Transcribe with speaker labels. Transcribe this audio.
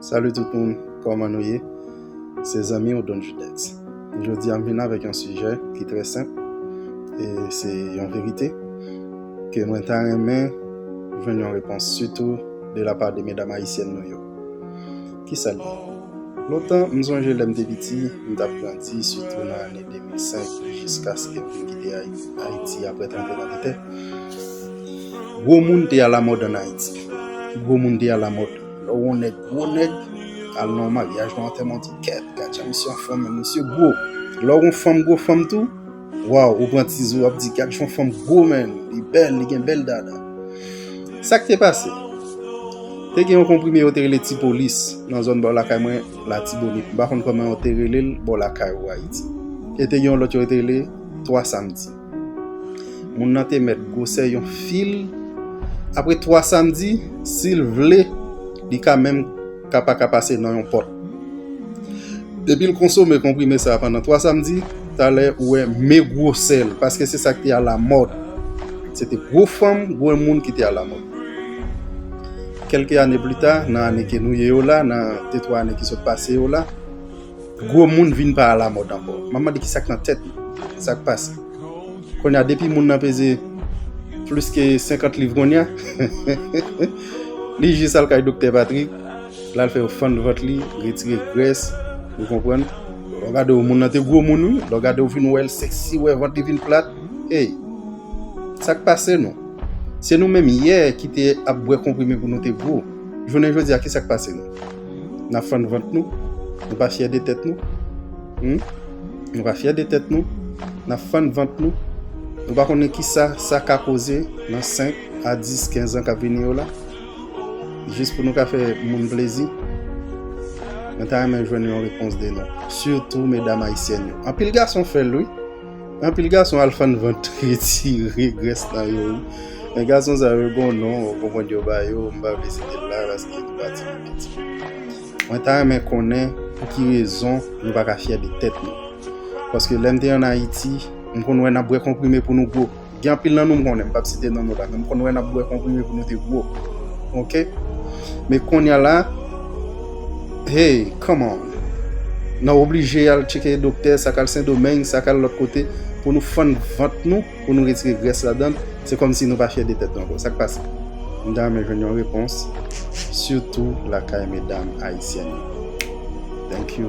Speaker 1: Salut tout moun, kòman nou ye? Se zanmi ou Don Judex. Jodi a m vin avèk yon sijè ki trè senp e se yon verite ke mwen ta renmen jwenn yon repons sitou de la pa de medam ayisyèn nou yo. Kisa l ye? Lontan m sonje lè m te piti, m t ap grandi sitou nan ane 2005 jiskaske m vin kite Ayiti aprè tranbleman de tè, Gwo moun te alamòd an Ayiti. Gwo moun te alamòd. Lè w wè yon nèg gwo nèg, al nan yon maryaj, nan yon antèman, w di, Kèt! Gad jan misye anfòm! Men misye gwo. Lè w wè yon fanm gwo fanm tou, waw, ou pran ti zo, w ap di, Gad jan yon fanm gwo men! Li bèl, li gen bèl dada. Sa k te pase? Te gen yon konprime yo te rele Tipolis nan zòn bò lakay mwen, Latibonit. M pa konn kòman yo te rele l bò lakay ou, Ayiti. E te gen yon lòt yo te rele Twa Samdi. Moun nan te mèt gwosè yon fil. Apre twa samdi, si l vle, li ka menm ka pa ka pase nan yon pòt. Depi l konsome konprime sa a pandan twa samdi, talè ou wè me gwosè l, paske se sa k te alamòd. Se te gwo fanm, gwo moun ki te alamòd. Kèlke ane pli ta, nan ane ke nou ye yo la, nan detwa ane ki sot pase yo la, Gwo moun vin pa alamòd ankò. M ap mande ki sa k nan tèt nou. Sa k pase? Kounye a, depi moun nan peze plis ke 50 liv kounye a, li jis al kay Doktè Patrik, l al fè yo fann vant li, retire grès, ou konprann. Lè w gade w, moun nan te gwo moun wi. Lè w gade w vin wè l sèksi, wè vant li vin plat. Ey! Sa k pase nou? Se nou menm yè ki te ap bwè konprime pou nou te gwo. Jounen jodi a, ki sa k pase nou? Nap fann vant nou? Nou pa fyè de tèt nou? Humm nou pa fyè de tèt nou? Nap fann vant nou? Nou pa konnen kisa sa ka koze nan 5 a 10, 15 an kap vini yo la? Jis pou nou ka fè moun plezi? Mwen ta renmen jwenn yon repons de nou. Sitou medam ayisyèn yo. Anpil gason fèl wi. Anpil gason al fann vant retire grès nan yo wi. Men gason sa yo gon non ou konprann yo ba yo, m pa vle site l la paske li pati pou piti. Mwen ta renmen konnen pou ki rezon nou pa ka fyè de tèt nou. Paske lè m te an Ayiti, m konn wè n ap bwè konprime pou nou gwo. Gen anpil nan nou m konnen, m pap site non nou la, men m konn wè n ap bwè konprime pou nou te gwo. Ok. Men konnya la, hey, come on! N ap oblije al tcheke doktè, sa k al Sendomeng, sa k al lòt kote, pou nou fann vant nou, pou nou retire grès ladan l, se kòmsi nou pa fyè de tèt nou ankò. Sa k pase? M ta renmen jwenn yon repons, sitou lakay medam ayisyèn yo. Thank you.